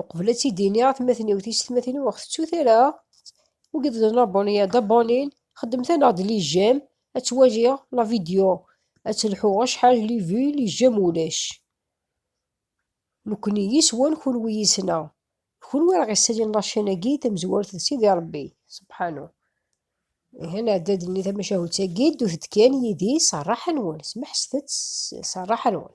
uqbel ad tt-id-iniɣ atmaten-iw tiysetmatin-iw ur ɣ-tettut ara ur giḍen aboniyad abonin xedmet-aneɣ-d li jem ad ttwaliɣ la vidéo ad telḥuɣ acḥal li vues li jem ulac nekni yis-wen kunwi yis-neɣ d kunwi ara ɣ-yessalin la chaîne-agi tamezwarut d Sidi Ṛebbi subḥanu ihi nɛedda-d nni tamacahut-agi ddut-d kan yid-i s rraḥa-nwen smeḥset-tt s rraḥa-nwen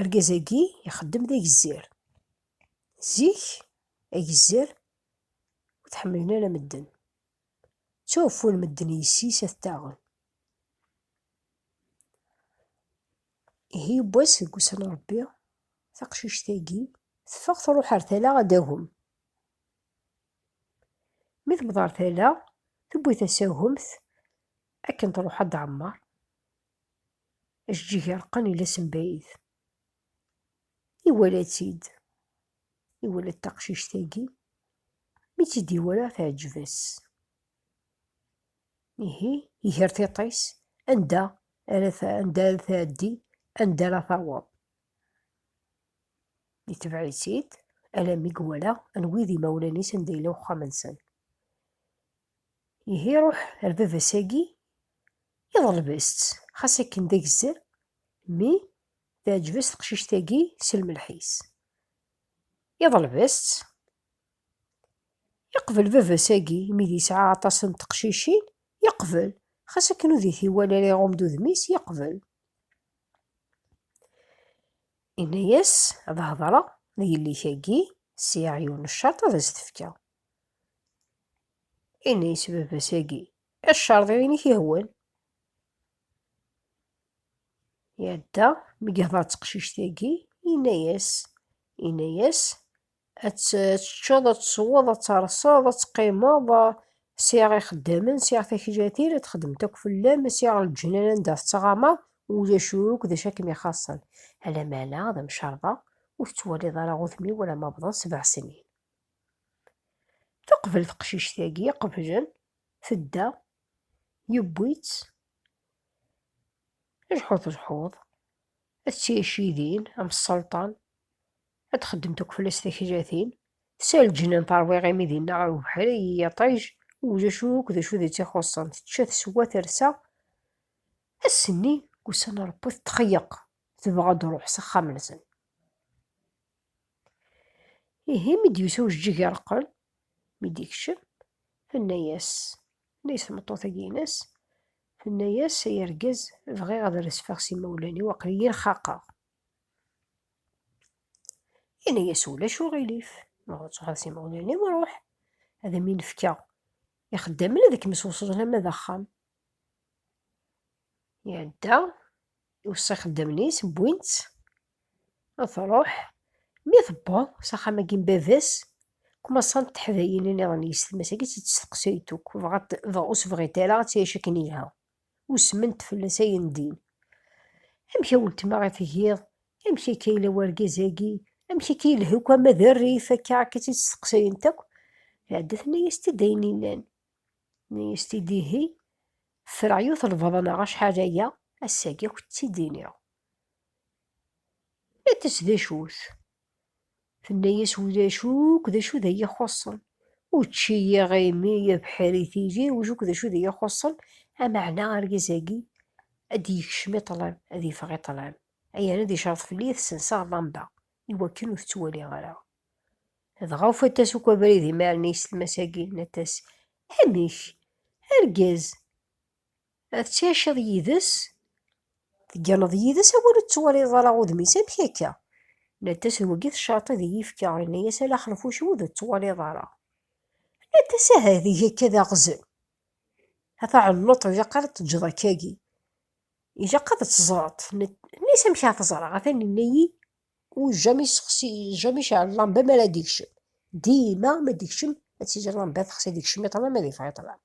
Argaz-agi ixeddem d agezzir. Zik, agezzir ur t-ḥemmlen ara medden. Ttwaɛfun medden yes-is ad t-aɣen. Ihi yiwwas deg wussan n Rebbi, taqcict-agi teffeɣ truḥ ar tala ad d-tagem. Mi tewweḍ ar tala, tewwi tasagemt akken truḥ ad d-tɛemmer. Ajeǧǧig ireqqen ila sembayit. Iwala-tt-id. Iwala-d taqcict-agi. Mi tt-id-iwala teɛǧeb-as. Ihi, iger tiṭ-is anda ara anda ara tɛeddi, anda ara taweḍ. Itbeɛ-itt-id alammi iwala anwa i d imawlan-is, anda yella uxxam-nsen. Ihi ruḥ ar baba-s agi iḍleb-as-tt, xas akken d agezzer, mi teɛǧeb-as teqcict-agi s lmelḥ-is. Iḍleb-as-tt, yeqbel baba-s agi imi d yesɛa aṭas n teqcicin, yeqbel, xas akken ur d it-iwala ara iɣum-d udem-is, yeqbel. Inna-yas ad hedreɣ d yelli-k agi, sɛiɣ yiwen n ccerṭ ad as-t-fkeɣ. Ini i s-baba-s agi. Icerḍiyen i k-ihwan. Iɛedda, mi yehḍeṛ d teqcict-agi, yenna-yas, yenna-yas, ad teččeḍ, ad tesweḍ, ad terseḍ, ad teqqimeḍ, sɛiɣ ixeddamen, sɛiɣ takjatin, ad txedmemt akk fell-am, sɛiɣ leǧnan anda tettɣamaḍ, ulac akk d acu i kem-ixaṣṣen. Ala meɛna d amcerḍeɣ, ur tettwaliḍ ara udem-iw alamma wwḍen sebɛa snin. Teqbel teqcict-agi, qeblen, tedda, yewwi-tt, lḥuḍ lḥuḍ, ad tɛic idin, am sselṭan, ad txeddem takfela s taklatin, s lǧennan terwa iɣimi dinna ɣer ubeḥri, i yiṭij, ulac akk d acu d tt-ixuṣṣen, tečča, teswa, tersa, ass-nni, ussan n Rebbi, tetxeyyeq, tebɣa ad d-ruḥ s axxam-nsen. Ihi mi d-yusa ujeǧǧig ireqqel, mi d-ikcem, tenna-yas, tenna-yas tmeṭṭut-agi-ines, tenna-yas ay argaz bɣiɣ ad resfeɣ s imawlan-iw aql-iyi rxaqeɣ. Yenna-yas ulac uɣilif, ma bɣiɣ ad truḥeḍ s imawlan-iw ruḥ, ad am-in-fkeɣ ixeddamen ad kem-swesden ama d axxam. Iɛedda, iweṣṣa ixeddamen-is, wwin-tt, Truḥ, mi tewweḍ s axxam-agi n baba-s, kmaṣant teḥdayin nniḍen yis tmas-agi tt-id-steqsayt akk, bɣant dɣa ur s-bɣint ara ad tɛic akken yelha, usment fell-as ayen ddin, Amek a weltma i tgiḍ? Amek akka yella wergaz-agi? Amek akka yelha akk ama d rrif akka? Akka tt-id-steqsayent akk, tɛedda tenna-yas-t-id ayen yellan, tenna-yas-t-id ihi, ffreɣ yiwet n lbaḍna acḥal aya, ass-agi akk tt-id-iniɣ. Iɛeddez-as d acu-t. Tenna-yas ulac akk d acu d ay ixuṣṣen. Učči, iɣimi, abeḥri, tili, ulac akk d acu d ay ixuṣṣen, ameɛna argaz-agi ad d-yekcem i ṭṭlam, ad yeffeɣ i ṭṭlam, ayen ad icerreḍ fell-i ad t-senseɣ llamba i wakken ur t-ttwaliɣ ara. Dɣa ufant-as akk abrid i Marni s tlmas-agi, nnant-as, Amek! Argaz! Ad tɛiceḍ yid-s, tegganeḍ yid-s, a win ur tettwaliḍ ara udem-is, amek akka? Nnan-as, d wagi tecreḍ ad iyi-fkeɣ, yenna-as ala xenfuc wid ur tettwaliḍ ara. Nnan-as, aha ad eg akka d aɣzen, a taɛennuṭ ilaq ara teǧǧeḍ akkagi, ilaq ad teẓreḍ, tenna-as, amek ara t-ẓreɣ, atan yenna-yi ujjam yessexsi, ujjam iceɛl llamba mi ara d-ikcem, dima mi ara d-ikcem ad tili llamba texsi, ad ikcem iṭlam ad yeffeɣ iṭlam.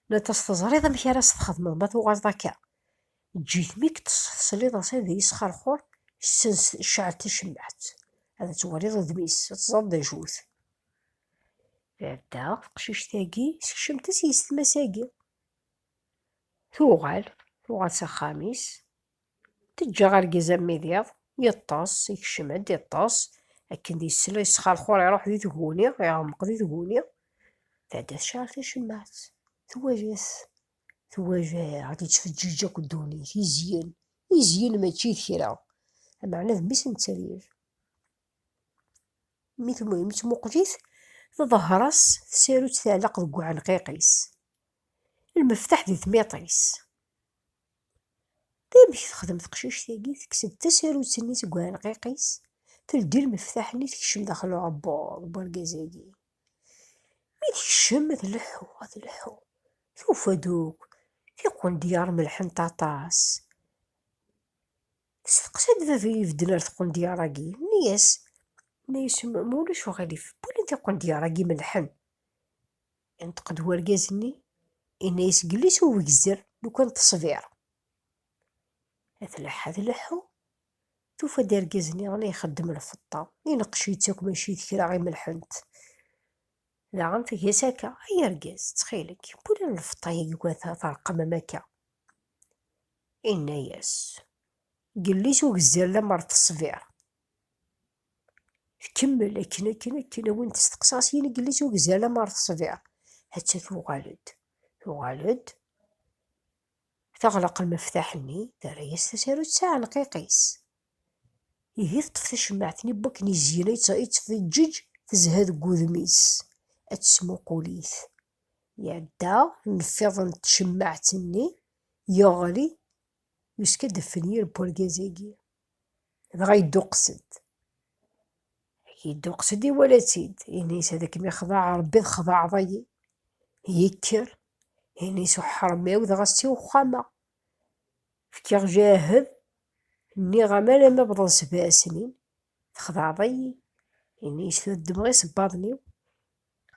Nnan-as, Teẓriḍ amek ara s-txedmeḍ ma tuɣaleḍ akka? Eǧǧ-it mi k-tesliḍ ɣas d yesxerxur, sens cɛel tacemmaɛt, ad twaliḍ udem-is, ad teẓreḍ d acu-t. Tɛedda teqcict-agi, sekcem-t-as yessetma-agi. Tuɣal, tuɣal s axxam-is. Teǧǧa argaz armi d iḍ, yeṭṭes, ikcem-d, iṭṭes, akken d isel, isxerxur, iruḥ di tguni, iɣmeq di tguni, tɛedda tecɛel tacemmaɛt, twala-t, twala ɣad yettfeǧǧiǧ akk ddunit, izyen, izyen mačči d kra, ameɛna d mmi-s n tteryel. Mi tmuqel-it, tḍehher-as tsarut tɛelleq deg uɛenqiq-is, lmeftaḥ di tmiṭ-is. Amek texdem teqcict-agi? Tekkes-d tasarut-nni seg uɛelqiq-is, teldi lmeftaḥ-nni tekcem daxel uɛebbuḍ n urgaz-agi. Mi tekcem ad tleḥḥu, ad tleḥḥu, tufa-d akk tiqendyar melḥent aṭas. Testeqsa-d baba i ibedden ar tqendyar-agi, yenna-yas, yenna-yas, ma ulac uɣilif, wali tiqendyar-agi melḥen. Inṭeq-d wergaz-nni, inna-yas, Glis ubegzer lukan teṣbiṛ. A tleḥḥa tleḥḥu, tufa-d argaz-nni la ixeddem lfeṭṭa, ineqqec-itt akk mačči d kra i melḥent. Daɣen tga-s akka, Ay argaz, ttxil-k, wali lfeṭṭa-agi iwata teṛqem am akka. Inna-yas, Glis ugezzer lemmer teṣbiṛ. Tkemmel akken akken akken a win testeqsa s yinegli s ugzi alamma ɣer tesbirt. Atta tuɣal-d. Tuɣal-d, teɣleq lmeftaḥ-nni, terra-yas tasarut s aɛenqiq-is. Ihi teṭṭef tacemmaɛt-nni n wakken izyen ay tt-feǧǧeǧ, tezha deg wudem-is, ad tesmuqul-it. Iɛedda nnfiḍ n tcemmaɛt-nni, yeɣli, yuska-d ffenyir n wergaz-agi. Dɣa yedduqes-d. Yedduqes-d iwala-tt-id. Ini-s ad kem-ixḍaɛ Ṛebbi txḍaɛeḍ-iyi. Yekker, ini-s uḥṛem-iw dɣa s tiwexxam-a. Fkiɣ jahed, nniɣ-am alamma bḍan sebɛa snin, txḍaɛeḍ-iyi. Ini-s tura ddmeɣ isebbaḍen-iw,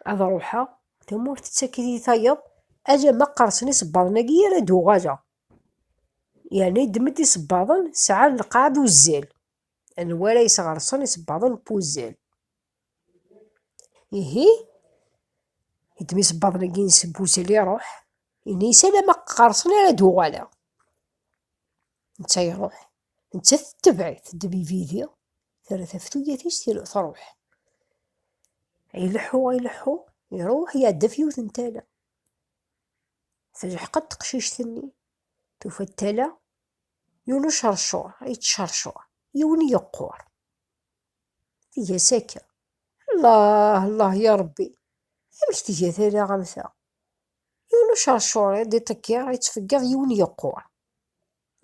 ad ṛuḥeɣ, tamurt tettak-iyi tayeḍ, alamma qqerṣen isebbaḍen-agi ara d-uɣaleɣ. Yerna yeddem-d isebbaḍen sɛan lqaɛ d uzzal, anwa ara yesɣersen isebbaḍen n wuzzal? Ihi, yeddem isebbaḍen-agi n wuzzal iruḥ, ini-as ala ma qqersen ara d-uɣaleɣ. Netta iruḥ, nettat tettabaɛ-it, teddem ibidi, terra tafetugat-is truḥ. Ileḥḥu, ileḥḥu, iruḥ iɛedda ɣef yiwet n tala. Telḥeq-d teqcict-nni, tufa-d tala, yuli uceṛcuṛ, yettceṛcuṛ, yiwen yeqqur. Tga-as akka, Allah, Allah, ya Ṛebbi, amek tga tala am ta? Yiwen uceṛcuṛ i d-iṭeggiṛ, ittfeggiḍ, yiwen yeqqur.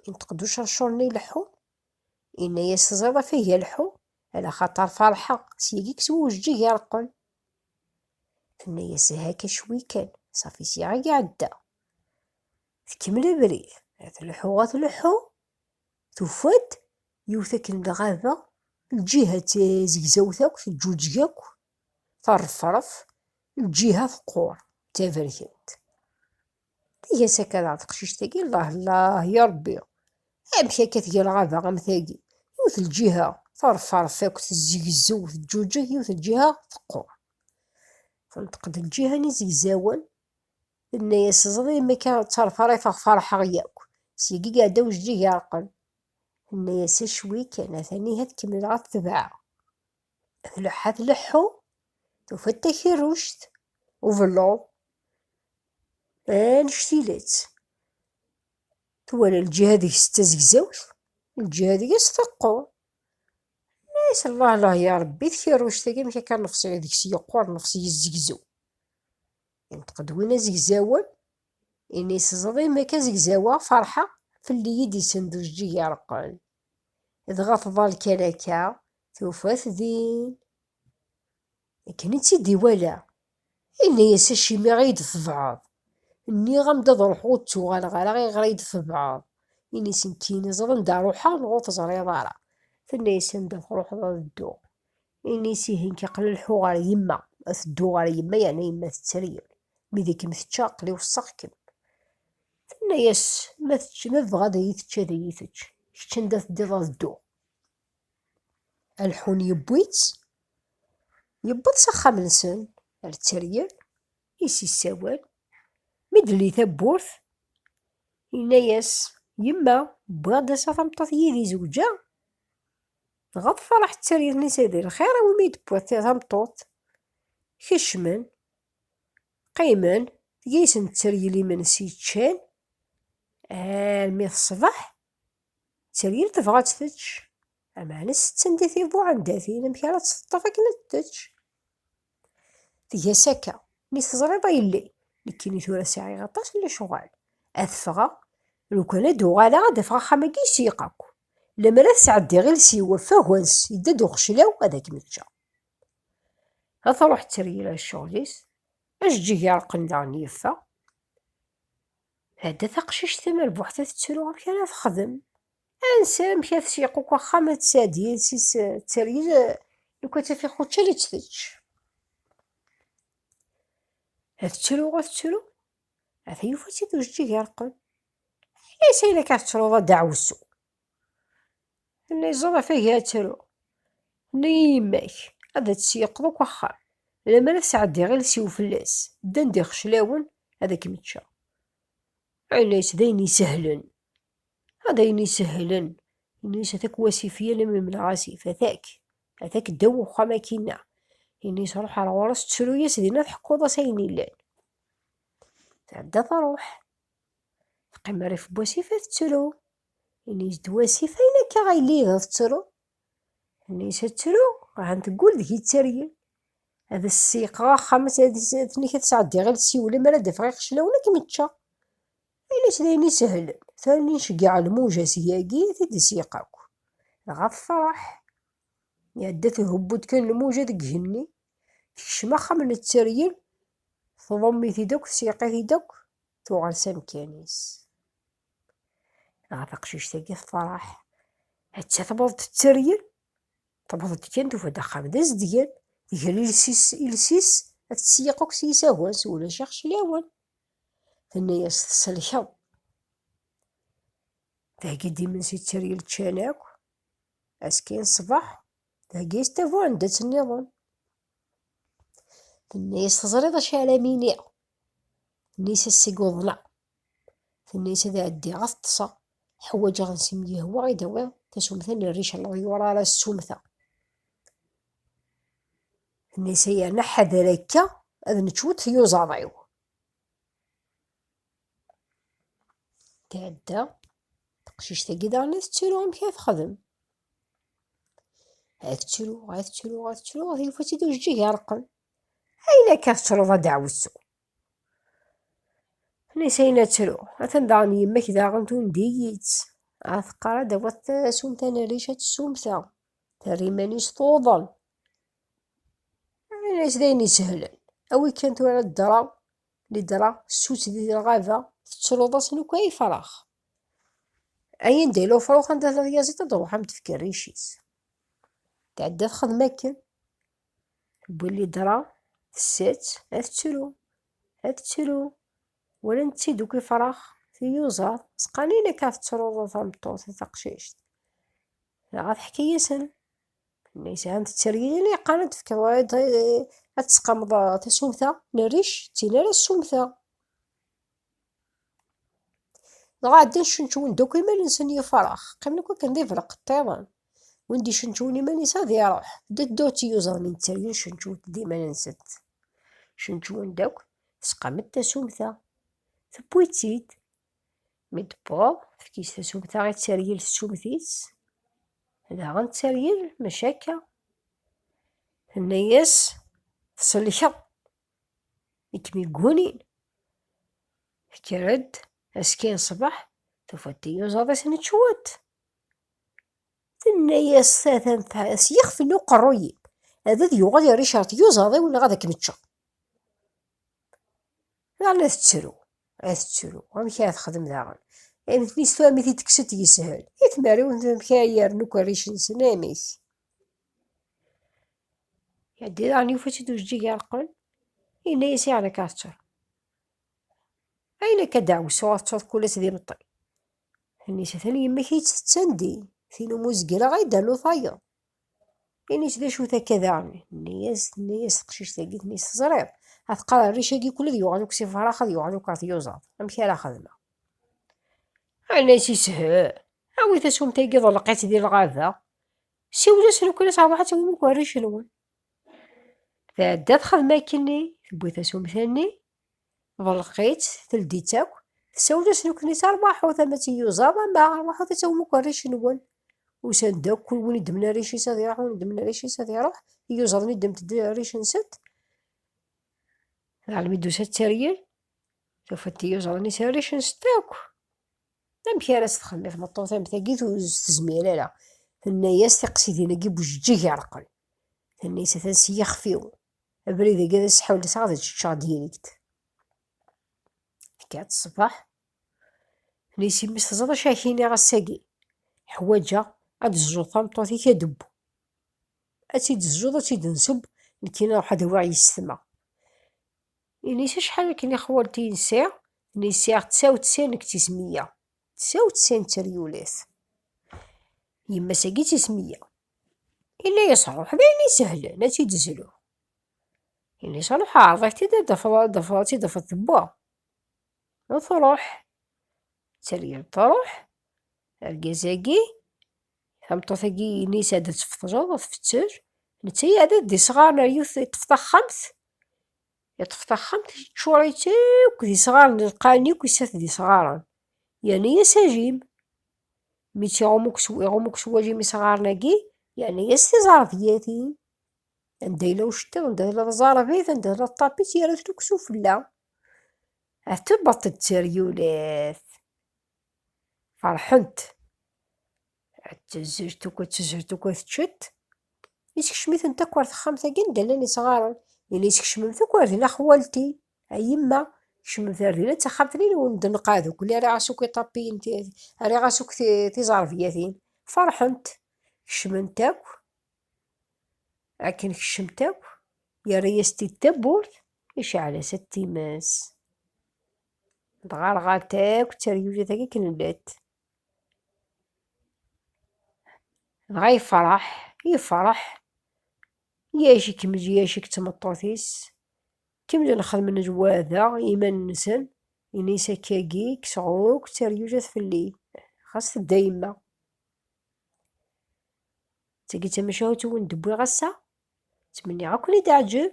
Inṭeq-d uceṛcuṛ-nni ileḥḥu, Inna-yas, Teẓriḍ a tagi alḥu, ala xaṭer ferḥeɣ, s yagi-k s wujeǧǧig ireqqen. Tenna-yas, Haka cwi kan, safi sya i iɛedda. Tkemmel abrid, a tleḥḥu, a tleḥḥu, tufa-d yiwet akken lɣaba, lǧiha d tazegzawt akk, teǧǧuǧeg akk, terrefref, lǧiha teqqur, d taberkant. Tga-s akka daɣ teqcict-agi, llah llah, ya Ṛebbi, amek akka tga lɣaba am tagi, yiwet lǧiha teṛferf akk, tezzegzew, teǧǧuǧeg, yiwet lǧiha teqqur. Tenṭeq-d lǧiha n izegzawen, tenna-yas ẓri mi akka ttarfaṛifeɣ feṛḥeɣ yakk, syagi iɛedda ujeǧǧig iɛerqen. Tenna-yas acwi kan, atan ihi ad kemmleɣ ad t-tebɛeɣ. Tleḥḥa tleḥḥu, tufa-d takerruct, ubelluḍ, annect-ilett. Twala lǧiha deg-s d tazegzawt, lǧiha deg-s teqqur. Nna-yas, Llah llah ya Rebbi, tkerruct-agi amek akka nnefṣ deg-s yeqqur, nnefṣ yezzegzew. Yenṭeq-d win azegzawen, ini-s, Teẓriḍ imi akka zegzaweɣ, ferḥeɣ, fell-i i d-isend ujeǧǧig ireqqen. Dɣa tḍal kan akka, Tufa-t din. Akken i tt-id-iwala, yenna-yas acimi i yi-d-tebɛeḍ? Nniɣ-am-d ad ruḥeɣ ur d-ttuɣaleɣ ara ayɣer i yi-d-tebɛeḍ? Ini-as nekkini teẓriḍ anda ruḥeɣ neɣ ur teẓriḍ ara? Tenna-yas anda truḥeḍ ad dduɣ. Ini-as ihi nekk aql-i leḥḥuɣ ɣer yemma, ad tedduɣ ɣer yemma yeɛna yemma tetter-iyi, mi d ikem-tečča aql-i weṣṣaɣ-kem. Tenna-yas ma tebɣa ad iyi-tečč ad iyi-tečč, kečč anda teddiḍ ad dduɣ. Alḥun yewwi-tt, yewweḍ s axxam-nsen ar tteryel, is yessawel, mi d-telli tawwurt, yenna-yas, Yemma, wwiɣ-d ass-a tameṭṭut yid-i zewǧeɣ, dɣa tferreḥ tteryel-is d lxir i wumi d-tewwiḍ tameṭṭut. Kecmen, qqimen, tga-yasen tteryel imensi ččan, armi ṣṣbeḥ. Tteryel tebɣa ad tečč, ameɛna setten di tibuɛendatin amek ara tt-teṭṭef akken ad tečč. Tga-s akka, mi teẓriḍ a yelli, nekkini tura sɛiɣ aṭas n lecɣal, ad ffɣeɣ, lukan ad d-uɣaleɣ ad d-afeɣ axxam-agi yesiyyeq akk, lemmer ad sɛeddiɣ iles-iw ɣef wagans yedda-d uxeclaw ad akem-ččeɣ. Ad truḥ tteryel ar ccɣel-is, ajeǧǧig ireqqen daɣen yeffeɣ. Tɛedda taqcict tamerbuḥt ad tettru amek ara texdem. Ansa amek ad tseq uko axxam ad tesɛeddi yid-s tteryel lukan taf ixučan ad tt-tečč. Ad tettru ad tettru ad yufa-tt-id ujeǧǧig ireqqen. Ɛni ayen akka tettruḍ a ddaɛwessu? Nna iẓur ɣef agi ad tru. Nna i yemma-k ad tt-yeqḍu deg uxxam. Lemmer ad sɛeddiɣ iles-iw fell-as, ddan-d ixeclawen ad kem-ččeɣ. Nna-as d ayen isehlen. Ad ayen isehlen. Nna-as atak wasif yal mi mleɣ asif, atak. Atak ddaw uxxam akkinna. Nna-as ruḥ ar ɣur-s ttru-yas dinna tḥekkuḍ-as ayen illan. Tɛedda truḥ. Teqqim rrif n wasif ad tettru. Ini-s-d wasif ayen akka ay la iga tettru. Ini-s ad tru, ahan teggul deg-i d tergin. Ad as-seyqeɣ axxam, ad ten-ik ad sɛeddiɣ iles-iw, lemmer ad d-afeɣ iqeclawen ad kem-ččeɣ. Ini-s d ayen isehlen, terni nceggeɛ lmuja seg-agi ad t-id-isyaq akk. Dɣa tefreḥ. Iɛedda thubbu-d kan lmuja deg igenni, tekcem axxam n ttergin, tḍumm-it-id akk, tsyaq-it-id akk, tuɣal s amkan-is. ɣef aqcict-agi tefreḥ atta tewweḍ-d tteryel tewweḍ-d kan tufa-d axxam d azedgan tger iles-is iles-is ad tesseyyeq akk s yisawan s ulac ixeclawen tenna-yas tselkeḍ theggi-d imensi tteryel ččan akk askin ṣṣbeḥ theggi-yas tabuɛendat nniḍen tenna-yas teẓriḍ acu ara am-iniɣ tenna-yas ass-agi uḍneɣ Tenna-yas ad ɛeddiɣ ad ṭṭseɣ, ḥwaǧeɣ ad s-m-yehwa i d-awiɣ tasumta n rric n leḍyur ara ssumteɣ. Tenna-yas ay yerna ḥader akka ad nečč wiṭ tyuzaḍ-iw. Tɛedda teqcict-agi daɣen ad tettru amek ad texdem. Ad tettru, ad tettru, ad tettru, yufa-tt-id ujeǧǧig ireqqen. Ayla akka tettruḍ a ddeɛwessu. Nisayen ad tru, atan daɣen yemmek daɣen tundi-yi-tt. A teqqar ad d-taweḍ tasumt ad nerric ad tsumta, terra iman-is tuḍen. Ini-as d ayen isehlen, awi kan tura ddreɣ, lidreɣ, ssutt di lɣaba, tettruḍ-as n ukay ifrax. Ayen d ilufṛux anda tlaḍ yaziḍ ad d-ruḥ am tefkerric-is. Tɛedda txedem akken, Bullidra tessett ad tettru, ad tettru. Walan-tt-id akk ifrax, tiyuzaḍ, sqanin akka tettruḍ a tameṭṭut a taqcict. Dɣa teḥka-yasen. Nna yesɛan tetteryel yeqqan ad tefkeḍ ad tesqamḍ tasumta n rric d tin ara ssumteɣ. Dɣa ɛeddan cenčwen-d akk iman-nsen yifrax, qqimen akk akken d ibraq ṭṭiḍen. Win d-icenčwen iman-is ad iruḥ, d ddaw d tiyuẓaḍ n tteryel cenčwent d iman-nsent. Cenčwen-d akk, tesqam-d tasumta, tewwi-tt-id. Mi d-tewweḍ, tefk-itt tasumta i tteryel tessumt-itt, daɣen tteryel maca akka. Tenna-yas, tselkeḍ, i kem-iggunin. Tekker-d askiyen ṣṣbeḥ, tufa-d tiyuzaḍ-is n cwiṭ. Tenna-yas tata n tɛas, yixef n uqerruy-im, ad ad yuɣal yerric ɣer tiyuzaḍ-iw neɣ ad kem-ččeɣ. Daɣen ad tettru, ad tettru, amek ara texdem daɣen? Ay nutni s tura mi t-id-tekkes-d yeshel, i tmerriwin amek ara yernu ukerric-nsen, amek? Iɛeddi daɣen yufa-tt-id ujeǧǧig ireqqen, yenna-yas i Ɛli Kaɛettar, Ayen akka a ddeɛwessu ad tettuḍ kul ass d imeṭṭi. Ini-as atan yemma-k i tt-tettan din, tin umi ur zegreɣ ay d-ternu tayeḍ. Ini-as d acu-t akka daɣen? Yenna-yas, tenna-yas teqcict-agi, tenna-yas teẓriḍ, ad teqqar rric-agi kul ad yuɣal akk s ifrax, ad yuɣal akk ar tyuẓaḍ, amek ara xedmeɣ? Ɛni a s-yeshel? Awi tasumta-agi ḍelleq-itt di lɣaba, Siwlet nekkni terbaḥt umuk warric-nwen. Tɛedda txedem akkenni, tewwi tasumta-nni, belqit, teldi-tt akk, tsawel-as nekkni terbaḥut ama d tiyuzaḍ ama rbaḥut ad tawum akk arrac-nwen. Usan-d akk, kul win idemmen arrac-is ad iruḥ, win idemmen arrac-is ad iruḥ, iyuzaḍ-nni ddment-d arrac-nsent. Almi d-tusa tteryel, tufa-d tiyuzaḍ-nni s arrac-nsent akk. Amek ara s-txelli tmeṭṭut am tagit ur s-tezmir ara? Tenna-yas tiqsidin-agi bujeǧǧig ireqqel. Tenna-yas atan s yixef-iw. Abrid-agi ad as-ḥulseɣ ad čeččeɣ dirikt. Tekka-tt ṣṣbeḥ. Tenna-yas yemma-s teẓriḍ acu ak iniɣ ass-agi? Ḥwaǧeɣ ad d-tezzuḍ tameṭṭut-ik adebbw. Ad tt-id-tezzuḍ, ad tt-id-nsebb, nekkini ad ruḥ ad awiɣ yis-s tma. Inis acḥal akken i xwalti insi, nisiɣ tsa u tsin deg tismiya, tsa u tsin d teryulit. Yemma-s agi d tismiya. Inna-yas ruḥ d ayen isehlen ad tt-id-zluɣ. Inis ruḥ ɛreḍ-ak-t-id ad d-tafeḍ ad d-tafeḍ ad tt-id-tafeḍ tewwa. U truḥ. D teryalt truḥ. Argaz-agi, tameṭṭut-agi inis ad d-tfeṭṭzeḍ ad tfetter, netta iɛedda d isɣaren ar yiwet iṭṭef taxxamt, Yeṭṭef taxxamt iččur-itt akk d isɣaren lqaɛen akk isat d isɣaren. Yerna-yas ajim. Mi tt-iɣumm akk s wajim isɣaren-agi, yerna-yas tiẓerbiyatin. Anda yella uceṭṭiḍ, anda tella tẓerbit, anda tella ṭṭapit, yerra-ten akk sufella. Ad tebṭ d teryulat. Ferḥent. Ttezzirt tukkwa, ttezzirt tukkwa, teččet. Isekcem-itent akk ar texxamt-agi anda llan isɣaren. Yella isekcem-m tukkwa ar dina xwalti, a yemma. Kecmemt ar dina d taxxamt-nni n wen-d-neqqa d ukli ara ɣas akk iṭapiyen, ara ɣas akk tiẓerbiyatin. Ferḥent. Kecment akk. Akken kecmet akk, yerra-yas-t-id tawwurt, iceɛl-as-t times. dɣa rɣant akk tteryulit agi akken llant dɣa yefreḥ yefreḥ yaj ikmez yaj ik tmeṭṭut-is kemzen xedmen zwada iman-nsen ini-s akkagi kkseɣ akk tteryulit fell-i xas tedda yemma d tagi d tamacahut wen d-wwiɣ ass-a Ttmenniɣ ad ken-id-teɛǧeb.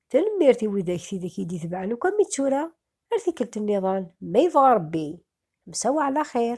Tanemmirt i widak tidak i d-itebɛen akk am i tura, ar tikkelt nniḍen, ma yebɣa Rebbi. Msa waɛla xir.